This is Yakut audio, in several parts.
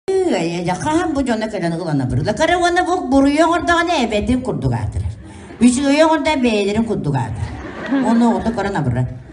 Эйэ, хаһан бу дьоно кэлэн ылана бырыла. Кара уонна бу буруйу оҥордоҕуна эбэтин курдук аатырар. Үчүгэйи оҥордо бэйэлэрин курдук аатырар. Ону оҕото көрөн абырра.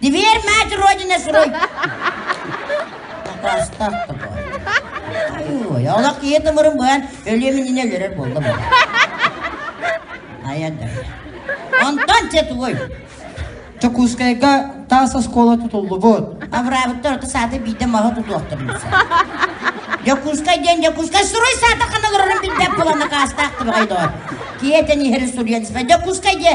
Дивер, мать родина строй! Атастап Ой, олох киһи тымырын быан өлүөмүнүнэ өлөрөр буолла бу. Айа да. Онтон че тугой? Чокускайга таас оскуола тутуллубут. Авраамыттар ото саата биирдэ маһы тутуохтарын Дьокускай диэн Дьокускай суруй саата хана көрөрөн билбэп булан накаастаах тыбай доор. Киһи тэн иһери суруйан сыпа. Дьокускай диэ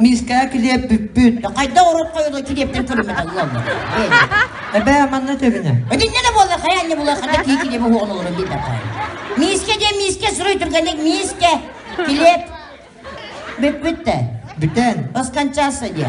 Миискэҕэ килиэппиппүт. Хайдах урукка үйэ килиэптэн көрүмэҕэ ыаллар. Эбээ манна тэбинэ. Өтүннэ да буолла, хайа анне буолла, хата кии килиэп уһуон олору биир тапай. Миискэ диэн миискэ суруй түргэнник миискэ. Килиэп. Бүппүттэ. Бүтэн. Оскончаса диye.